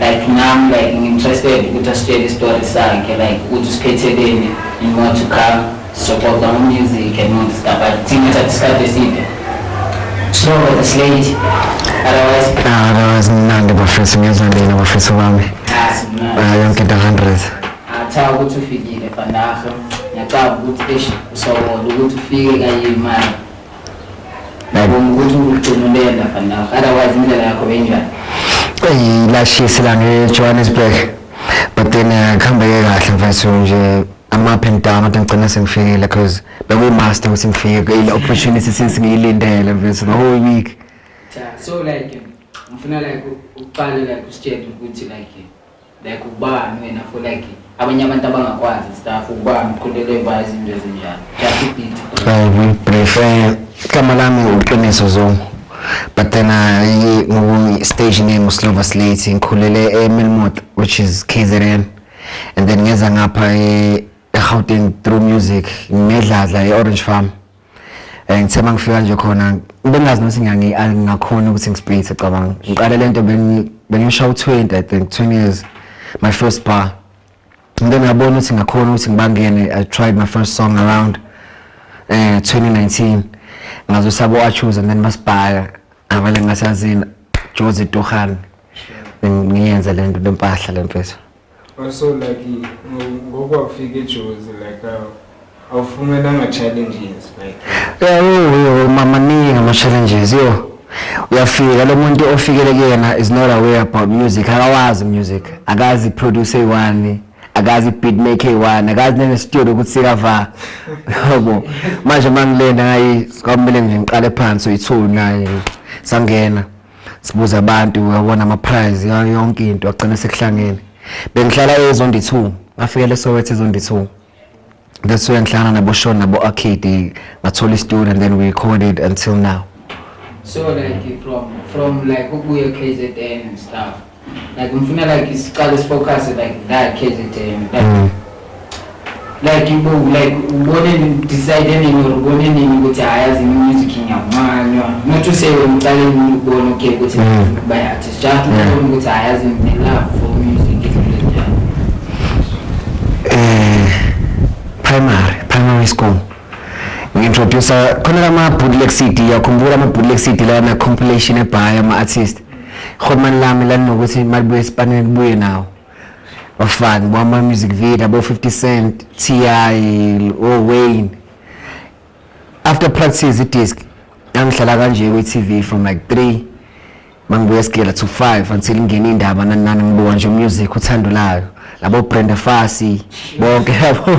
Like nam like ngi interested ukuthi asitshele istory sakhe like ukuthi usiphetheleni in more to come sizoxoxa ngo music and all this stuff but thina thatha isikhathi eside slow but it's late otherwise Ah, otherwise mnandi bafethu ngezwa lina bafethu bami ah simnandi Ah, yonke into 100 atha ukuthi ufikile fandaho ngiyacaba ukuthi eish usobola ukuthi ufike kayimali eyi lashisi la ngejohannesburg but then eh, kuhambeke kahle mfethu nje ama-up and down kodwa ngigcina sengifikile because bekuyimaster ukuthi ngifike kuyile opportunity since ngiyilindele mfethu the whole week so like ngifuna like uqale like usitshele ukuthi like like ubani wena for like abanye abantu abangakwazi staff ubani uqondele ba izinto ezinjalo just beat i will prefer igama lami uqiniso zongo but then i ngoku stage name uslova slate ngikhulele emelmot which is kzn and then ngeza ngapha e-gauteng through music ngedladla e-orange farm Eh ngithe mangifika nje khona bengazi nokuthi ngiyangi angingakhona ukuthi ngisipithe cabanga. Ngiqale lento bengi bengisha u20 I think 20 years my first bar. Ngike ngabona ukuthi ngakhona ukuthi ngibangene I tried my first song around eh 2019 ngazo sabo achoose and then masibhaka avale ngasazini Jozi Tohan ngiyenze lento lempahla lempethu. Also like ngokwafika eJozi like uh, awufumenanga challenges like yeah, mama ningi ama challenges yo uyafika lo muntu ofikele kuyena is not aware about music akawazi music akazi produce eyi-one akazi beat make eyi-one akazi nenestudio ukuthi sikava yobo manje uma ngilenda ngayi kwakumele nje ngiqale phansi uyi-two naye sangena sibuza abantu uyabona ama prize yayo yonke into agcina sekuhlangene bengihlala ezondi 2 ngafikele sowethi ezondi 2 that's where ngihlangana nabo Sean nabo Arcade ngathola istudio and then we recorded until now so like from from like ukuya KZN and stuff like ngifuna like isiqale sifocus like la KZN like mm. like ibo like ubone decide nini or ubone nini ukuthi hayazi music ngiyamanywa not to say ngiqale ngibone okay ukuthi mm. by artist just ubone ukuthi hayazi me love for music is really eh primary primary school ngintroducer khona lama bootleg CD yakhumbula ama bootleg CD lana compilation ebhaya ama artist Khomani lami lalinokuthi malibuye esipanini kubuye nawo bafani bama music video abo 50 cent ti o wayne after practice idisc yangihlala kanje kwi-tv from like 3 mangibuya esigela to 5 until ingena indaba nanani ngibuka nje umusic uthando layo labo brenda fasi bonke yabo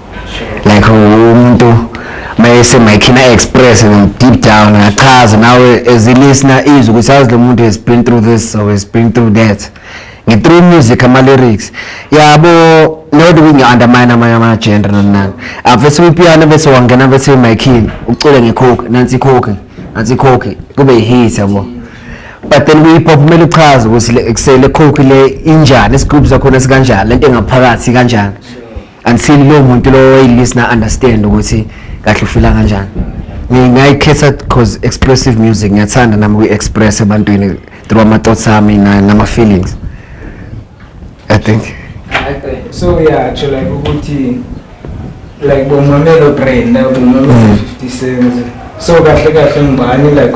like umuntu mayese mayikhina express and deep down achaze nawe as a listener izwe ukuthi azi lo muntu has been through this or has been through that ngi-through music ama-lyrics yabo not kungi-undermine amanye ama-gender nanani avese uyipiano bese wangena bese emayikhini ucule ngekhokhi nansi ikhokhi nansi ikhokhi kube yi-hit yabo but then kwi-hip hop kumele uchaze ukuthi kusele khokhi le injani isigubhu sakhona sikanjani le nto engaphakathi kanjani until lo muntu lo oyilista understand ukuthi kahle ufila kanjani ngingayikhetha cause expressive music ngiyathanda nami kuyi-express ebantwini through ama-thoughts ami nama-feelings i think so uyatsho like ukuthi like bomamelo brenda bomamelo mm. fifty cents so kahle kahle ngubani like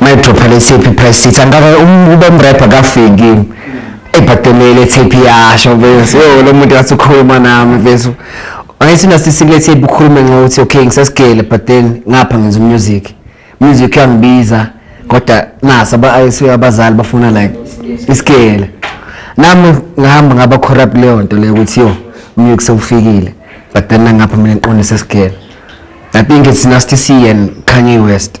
Mayidropha le tape price sheet angabe ube mrapper kafiki ebhadelele tape yasho bese yo lo muntu wathi ukhuluma nami bese ayisina sisikile tape ukhulume ngokuthi okay ngisesigele but then ngapha ngenza music music yangibiza kodwa nasa ba ayisuya abazali bafuna like isigele nami ngihamba ngaba corrupt leyo nto leyo ukuthi yo music sewufikile but then ngapha mina ngiqonde sesigele i think it's nasty c and kanye west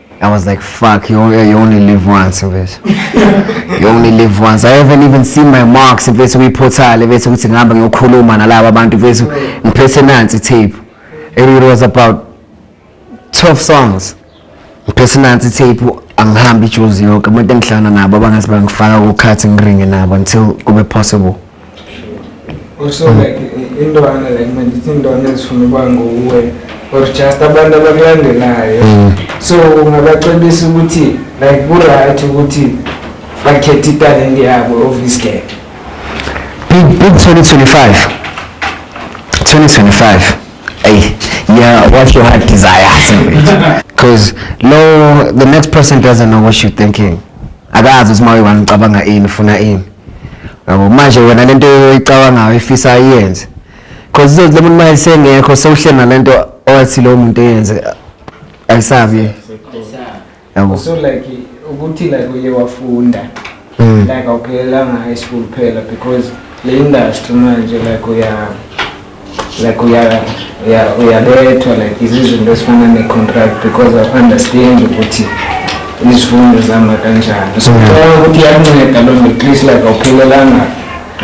I was like, fuck, you only, you only live once, mfethu. You only live once. I haven't even seen my marks, mfethu, kwiphotale, mfethu, ukuthi ngihamba ngiyokhuluma nalaba abantu, mfethu, ngiphethe nansi tape. And it was about 12 songs. Ngiphethe nansi tape, angihambi ijuzi yonke. Abantu engihlangana nabo abangase bangifaka kukhathi ngiringe nabo until kube possible. Also like intwana like mandithi intwana ezifuna ukuba nguwe or just abantu abakulandelayo mm. so ungabacebisa ukuthi like kuright ukuthi bakhethe italent yabo of this game big big 2025 2025 hey yeah what your heart desires because lo the next person doesn't know what you're thinking akazi ukuthi uma uyiwani ucabanga ini ufuna ini Yabo manje wena lento oyicabangayo ifisa ayenze. Cause izothi lo muntu uma esengekho sewuhleli nalento owathi lo muntu eyenze ayisabi. Yabo. so like ukuthi like uye wafunda Mm. like awuphelelanga high school kuphela because le industry manje like uya like uya uya uyabethwa like izizinto esifana ne-contract because of understand ukuthi izifundo zihamba kanjani so cela ukuthi iyanceda loo nto at least like awuphelelanga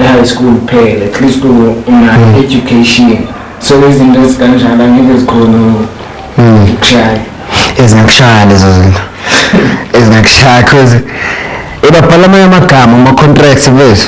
e-high school kuphela at least una-education so izinto ezikanjalo angeke zikhona ukushaya ezingakushaya lezo zinto ezingakushaya cause ebabhala amanye amagama ama-contracts bethu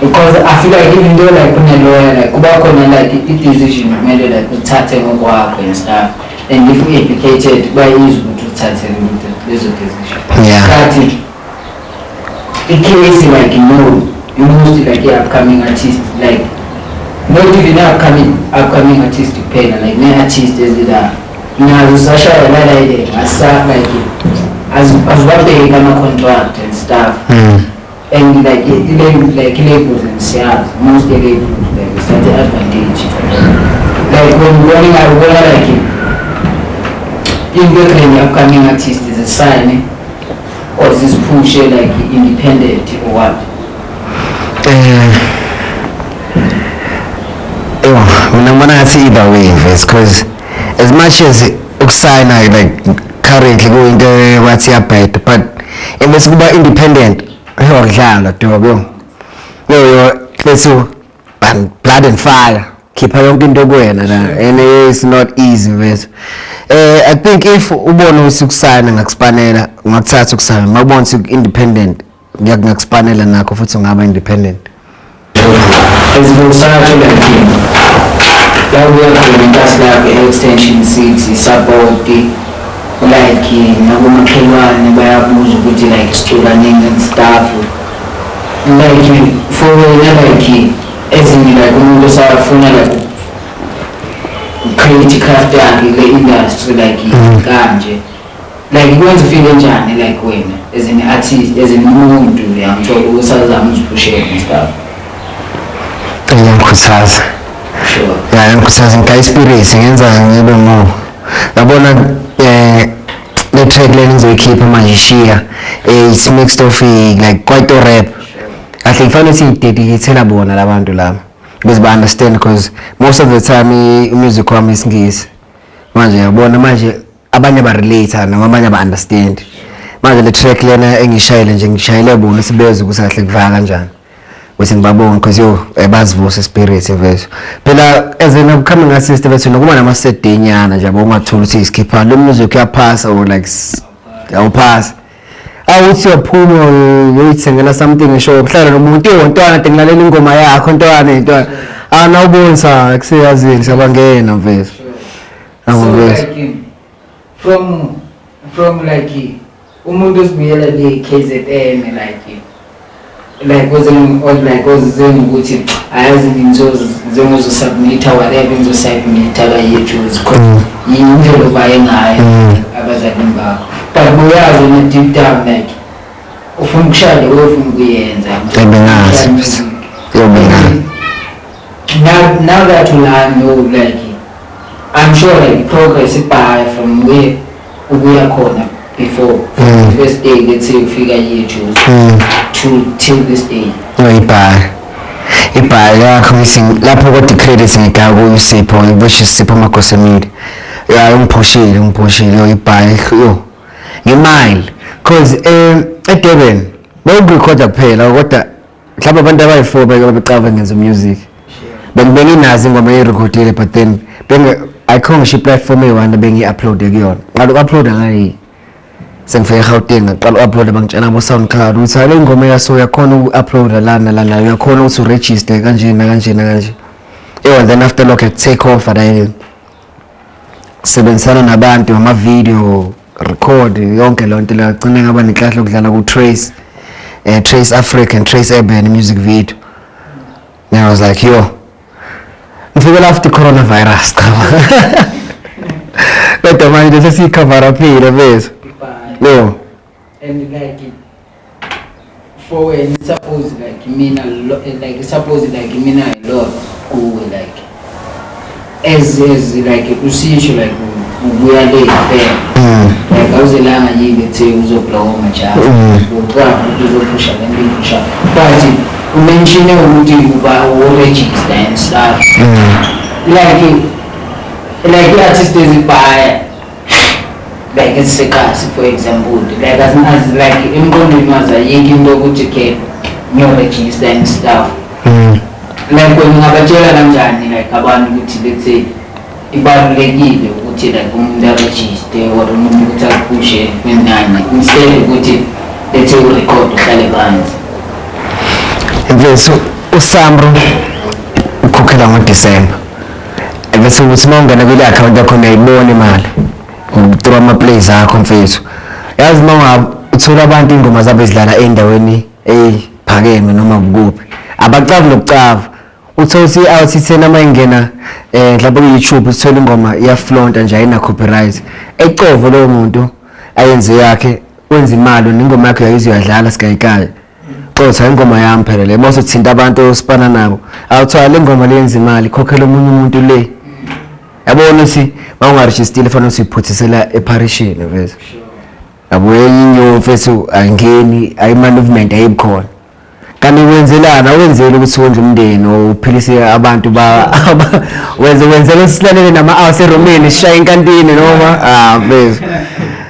because I feel like even though like kunelawyer like kuba khona like i-decision kumele like uthathe ngokwakho and stuff and if u-educated bayizwa ukuthi uthathe lezo decision kati i-case like no you most like i-upcoming artist like not even upcoming upcoming artist kuphela like ne-artist ezila nazo sashaya lalaile ngasa like azibabheki ama-contract and stuff mm. And like i-label like i-label siyazi most i-label like it's not advantage like when ubona ubona like into ekhanye upcoming artist zisayine or ziziphushe like independent or what um ewa mina ngibona ngathi either way vese because as much as ukusayina like currently kuyinto wathi yabheda but emese kuba independent yodlala dobe yo yo lethu um, blood and fire khipha yonke into kuwena la and it's not easy mfethu eh i think if ubona ukuthi ukusayina ngakusipanela ungakuthatha ukusayina mawubona ukuthi independent ngiyakusipanela nakho futhi ungaba independent ezibusana to the team yakuya khona inkathi lakho e-extension city isapoti like nakomakhelwane bayabuza ukuthi like sicukanini and stuff like for wena like ezinye like umuntu osafuna like create craft yakhe le industry like mm. kanje mm -hmm. like ikwenza ufile njani like wena as an artist as an umuntu uyangithola usazama uziphushela ngestuff iyangikhuthaza ya yangikhuthaza ngika ispirit ngenza ngibe more yabona eh le track le ngizoyikhipha manje shiya eh it's mixed of eh, like quite rap kahle kufanele siyidedicatela bona labantu laba because ba understand because most of the time eh, music wami isingisi manje yabona manje abanye ba relate noma abanye ba understand manje le track lena engishayile nje ngishayile bona sibeze kusahle kuvaka kanjani ukuthi ngibabonge because yo eh, bazivuse spirit mfethu phela as an upcoming artist bethu nokuba nama CD nyana nje bongathola ukuthi isikhipha lo music uyaphasa or like awuphasa awuthi uyaphuma uyoyithengela something ngisho ukuhlala nomuntu iwontwana tengilalela ingoma yakho ntwana intwana ana ubonisa kuseyazini sabangena mfethu Angivezi. So, like, from from like umuntu osibuyela le KZN like like was in or like was zeni ukuthi ayazi ngizoz ngizozo submit whatever ngizo submit la yejuzi khona yinto lovaye ngayo abazali mbakho but buyazi ne deep down like ufuna ukushada ufuna ukuyenza ngingazi yobona now now that you know like I'm sure like progress ibhaye from where ubuya khona before mm. the first day let's say ufika here to mm. to till this day no ibhaye ibhaye yakho ngithi lapho kodwa credit ngidaka kuyo Sipho ngibushi Sipho Magosemile ya ungiphoshile ungiphoshile yo ibhaye yo ngemile cause um eh, eDurban bawukurecorda kuphela kodwa mhlawumbe abantu abayi-four beke babeqava ngenza umusic bengibeke inazi ingoma eyirekhodile but then ayikho ngisho iplatform eyi-one bengiyi-uploade kuyona qala uku-uploada ngayi sengifike egauteng ngaqala u-uploada bangitshela abo-sound cloud ukuthi hale ingoma yaso uyakhona uku-uploada lana lana uyakhona ukuthi uregister kanje nakanje nakanje ewa then after lokho take off and sebenzisana nabantu ngama-video record yonke loo nto lagcina ngaba nenhlahla yokudlala ku-trace uh, trace africa and trace urban music video and i was like yo ngifikela after coronavirus cha kodwa manje sesiyicover aphile bethu no and like mfowenu suppose like mina lo- like suppose like mina i love kuwe like as as like usisho like u- ubuya le fair like awuzelanga yini ethe uzoblowa majalo uqwa ukuthi uzophusha le nto iphusha but umenshine ukuthi uba uregister and stuff like like i-artist ezibhaya like isikazi for example like asinazi like emqondweni wazi ayikho into yokuthi ke ngiyorejista and stuff mm. like wena ungabatshela kanjani like abantu ukuthi let's say ibalulekile ukuthi like umuntu arejiste or umuntu ukuthi aphushe kwenani instead ukuthi let's say urekhode uhlale phansi mfethu usamro ukhokhela ngodisemba Angithi ukuthi uma ungena kule account yakho uyayibona imali. Ngithrow ama plays akho mfethu. Yazi uma unga uthola abantu ingoma zabo ezidlala endaweni ephakeme noma kukuphi. Abacavi nokucava. Uthola ukuthi i-RTTN uma ingena eh mhlawumbe ku-YouTube uthola ingoma iyaflonta nje ayina copyright. Ecovo lowo muntu ayenze yakhe wenza imali nengoma yakhe yayiziyadlala sikayikayo. Xotha ingoma yami phela le mose thinta abantu osipana nabo. Awuthiwa le ngoma leyenza imali khokhela omunye umuntu le. Yabona si bawungarejistile fanele siphuthisela eparishini vese. Yabo yinyo mfethu angeni ayi movement ayibukhona. kanti wenzelana wenzela ukuthi wondle umndeni uphilise abantu ba wenze wenzela silalele nama-house eromeni sishaye inkantini noma ah mfethu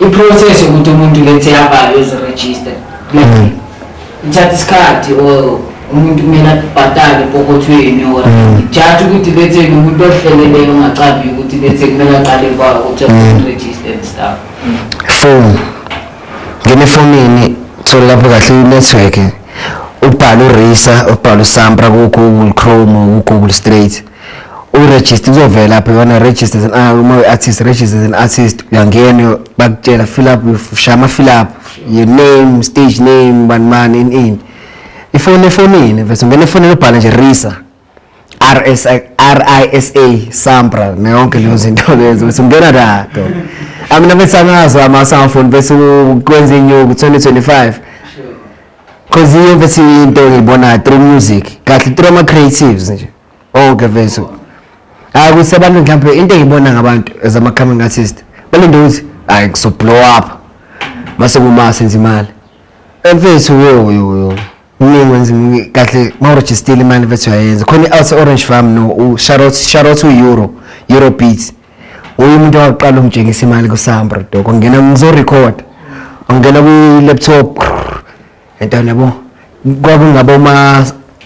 iprocess yokuthi umuntu lethe abhalwe eziregister mm. ithatha isikhathi or umuntu kumele abhatale epokothweni or mm. jathi ukuthi lethe umuntu ohleleleyo ongacambi ukuthi lethe kumele aqale kwa ukuthi mm. register and stuff phone ngene efonini thola lapho kahle inetwork ubhala urisa ubhala usampra ku-google chrome ku-google straight uregister uzovela lapho yona register as an ah, uma uyi-artist register as an artist uyangena bakutshela fill up shaya ama-fill up your name stage name bani mani in in ifoni efonini vese ungena efonini ubhala nje risa RSA RISA Sampra nayonke leyo zinto lezo bese ungena la do amina bese angazo ama smartphone bese ukwenza inyuku 2025 cause iyo bese into ngibona through music kahle through ama creatives nje Oh Geveso. Hayi kusebantu mhlawumbe into engibona ngabantu as ama coming artist. Balinde ukuthi hayi kuso blow up. Mase kuma senza imali. Emfethu yo yo yo. Mina wenza kahle ma register imali mfethu yayenza. Khona i-Alsa Orange Farm no u Charlotte Charlotte Euro Euro Beats. Uyi umuntu waqala ungitshengisa imali ku Sambro doko. Ngena ngizo record. Ungena ku laptop. Entana yabo kwakungaba uma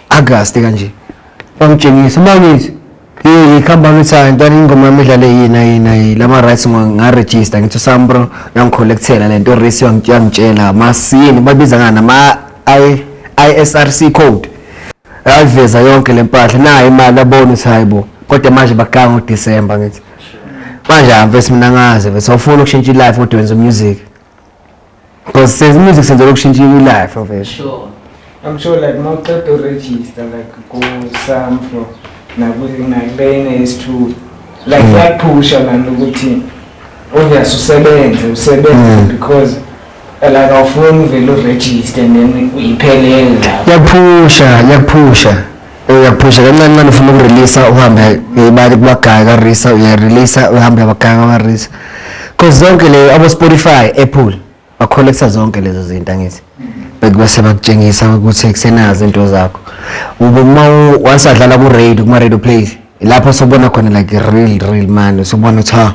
August kanje. Bangitshengisa mangithi Hey, khamba ngithayo ntwana ingoma yami idlale yina yina lama rights nga register ngithi sambro yangicollectela lento race yangitshela masini babiza ngana ma I ISRC code yaveza yonke lempahla nayo imali abona ukuthi hayibo kodwa manje baganga uDecember ngithi manje amfesi mina ngaze bese ufuna ukushintsha ilife kodwa wenza music Because says music senza lokushintsha i life of it. Sure. I'm sure like more to register like go some from nakuthi nakubene is2 like mm. like push and ukuthi obvious usebenze usebenze mm. because eh, like awufuni uvele uregister and then uyiphelele lapho. Yaphusha, yaphusha. uyaphusha kancane ncane ufuna ukureleasa uhambe uyayibali kubagaya karisa uyayireleasa uhambe abagaya kwamarisa cause zonke leyo abo-spotify apple bakholektha zonke lezo zinto angithi bekubase bakutshengisa ukuthi kusenazo into zakho ube uma once adlala ku-radio kuma-radio plays lapho sobona khona like real real mani sobona ukuthi ha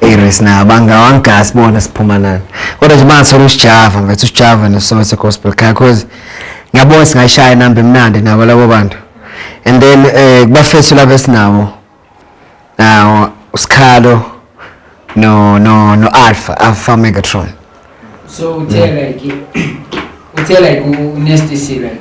Ey Reese naye abangawangasi bona siphuma nani. Kodwa nje bangathola usijava mfethu usijava neSoweto Gospel Choir cause ngiyabona singayishaya inamba emnandi nabo labo bantu. And then eh kubafethu labo esinawo. Nawo usikhalo no no no Alpha Alpha Megatron. so uthe like uthe like unesty si like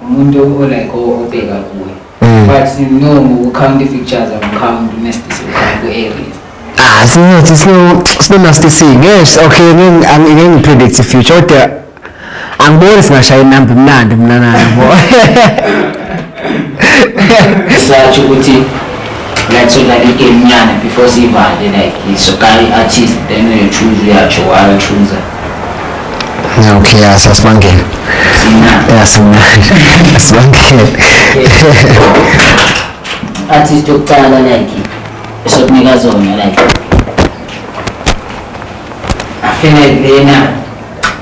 umuntu o like obheka kuye mm. but no ngokucount i-features amcount unesty si ku-aries ah sinothi sino sino nasty si yes okay ngeke ngipredict i-future kodwa angiboni singashaya inamba imnandi mina nayo bo satsho ukuthi ngathola igame nyana before sivale like isokayi artist then uyochuza uyatsho wayochuza okay ya sasibangela ya simnandi sibangela artist yokuqala like esokunika zona like afele lena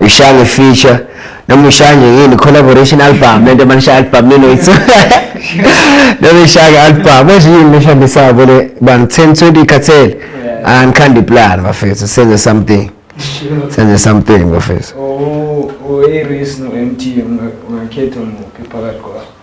Ishange feature noma ishange yini collaboration album lento manisha album nino ithu noma ishange album manje yini leshambe sabo le bani 10 20 cartel and candy plan bafethu senze something senze something bafethu oh oh iris no mt ungakhetha muphi phakathi kwabo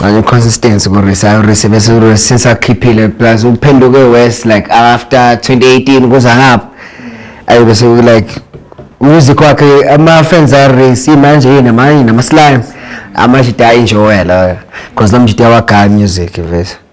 Ngale consistency ku Risa, ayo Risa bese Risa since akhiphile plus uphenduke worse like after 2018 kuza ngapha. Ayo bese ku like music wakhe ama fans a Risa manje yena manje nama slime amajita enjoy la because namjita wa music vese.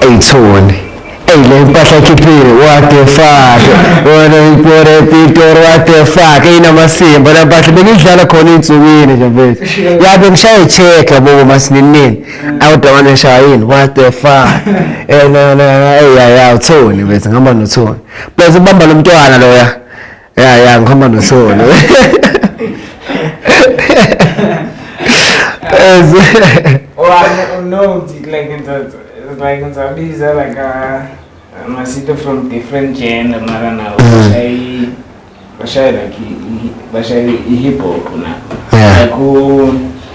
eyithole eyi le mpahla ekhiphile what the fuck wona ipore pitor what the fuck eyinamasimba la mpahla bengidlala khona ey'nsukwini nje mfethu ya bengishaye i-check yabo masininini awudawana eshaya yini what the fuck eyaya uthoni mfethu ngihamba nothoni plus ubamba lo mntwana loya ya ya ngihamba nosolo ngizabiza like uh, masito from different genre mara na bashayi bashayi like bashayi i-hip hop na like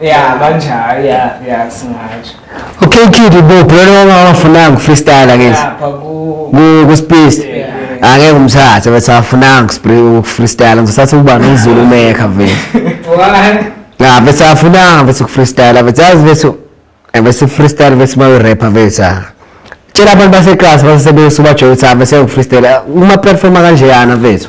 ya banjalo ya ya singatsho okay kid ibophi lona mama awafunanga ukufreestyla ke lapha ku ku ku space Yeah. angeke umthathe bese awafunanga ukufre- ukufreestyla ngizothatha ukuba nozulu mekha vele one ya bese awafunanga bese ukufreestyla bese yazi bese eh, bese freestyle bese mawe rapper bese ah. tshela abantu baseklasi basebenzisa ubajoyisa bese ukufreestyla uma performa kanjeyana vethu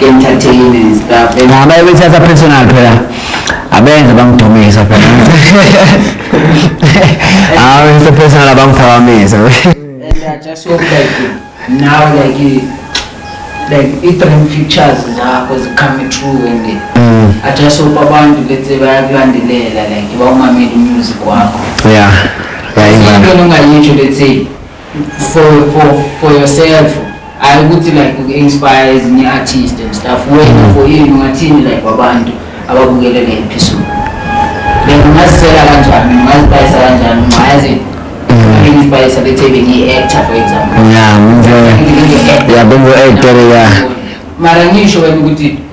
entertain and stuff and Ngaba ebethatha personal phela. Abenze bangidumisa phela. Ah, it's a personal abangiphakamisa. and I just hope like now like eh, like i-dream features zakho zicome true and eh, Mm. I just hope abantu bese bayakulandelela like bawumamele umusic wakho Yeah. Yeah, into imvana. nongayitsho lethe for for for yourself hayi ukuthi like uku-inspire ezinye artist and stuff wena for you ungathini like wabantu ababukele le episode then ungazisela kanjani ungazipayisa kanjani ungayazi inspire bethe bengiyi-actor for example ya bengiyi-actor ya mara ngisho wena ukuthi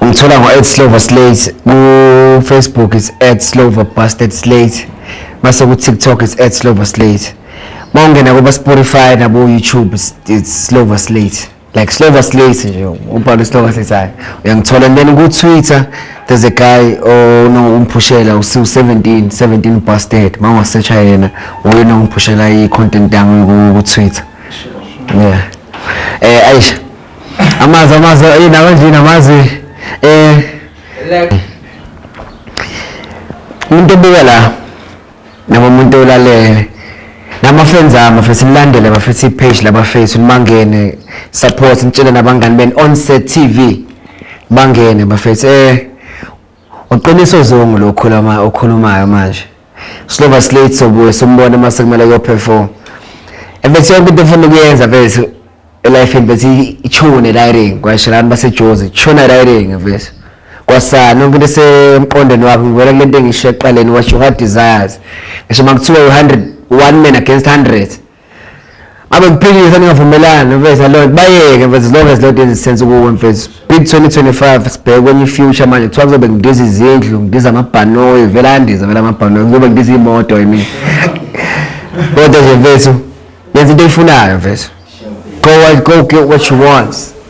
Ungithola ngo @slover slate ku Facebook is @slover busted slate base ku TikTok is @slover slate mawungena kuba Spotify nabo YouTube is it's slover slate like slover slate nje ubhala slover slate hayi uyangithola and then ku Twitter there's a guy oh no umphushela usiwu 17 17 busted mawa search yena uyena umphushela i content yangu ku Twitter yeah eh aisha amazi amazi eh nawe nje namazi eh umuntu obuka la noma umuntu olalele nama friends ami futhi nilandele bafethu ipage laba face nimangene support nitshele nabangani ben onset tv bangene bafethu eh Uqiniso zongu lokhuluma okhulumayo manje. Silova slate sobuye simbone uma sekumele kuyoperform. Ebese yonke into efuna ukuyenza bese elifini bese ichune liring kwashelani basejozi chuna liring bese. Kwasana yonke into esemqondweni wakho ngibona kule nto engisho eqaleni washo what desires. Ngisho makuthiwa u100 one man against hundreds abakuphikisa ningavumelani mfethu loo nto bayeke mfethu as long as loo nto izisense kuwe mfethu big 2025 sibheke kwenye ifuture manje kuthiwa kuzobe ngidiza izindlu ngidiza amabhanoyi vele andiza vele amabhanoyi kuzobe ngidiza iy'moto yimi kodwa nje mfethu yenza into eyifunayo mfethu go, go get what you want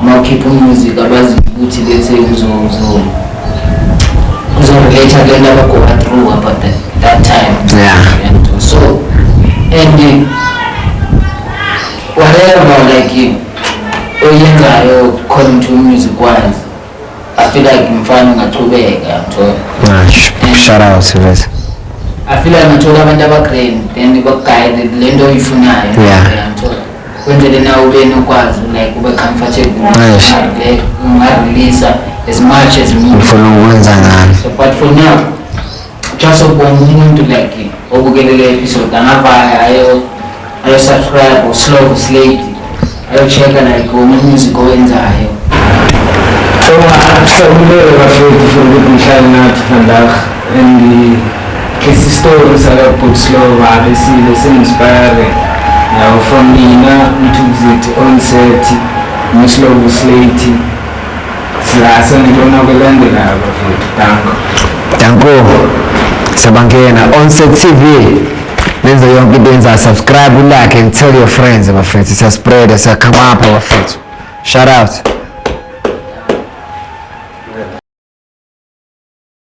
Uma ukhipha umusic abazi ukuthi let's say uzozo uzorelate ke laba go through about that, that time. Yeah. And so and uh, whatever like you oyenzayo according to music wise I feel like mfana ungachubeka mthola. Ah, shout out Sylvester. I feel like ngithola abantu abagrand then bakuguide lento oyifunayo. Yeah. Ngithola. kwenzele na ube nokwazi like ube comfortable le ungareleasa as much as ngifuna ukwenza ngani so but for now just ukubona umuntu like obukele le episode angavaya ayo ayo subscribe or slow slate ayo check like uma music owenzayo so ngapha umlelo bafethu for ukuthi ngihlale nathi vandaag and lesi story sakabut slow babe sile singispire yawo from mina mthukuzeti onset muslovu slate silasa ngilona kwelandelayo bafethu danko danko siyabangena onset tv nenze yonke into yenza subscribe ulike and tell your friends bafethu siyaspreada siyakhamapha bafethu shout out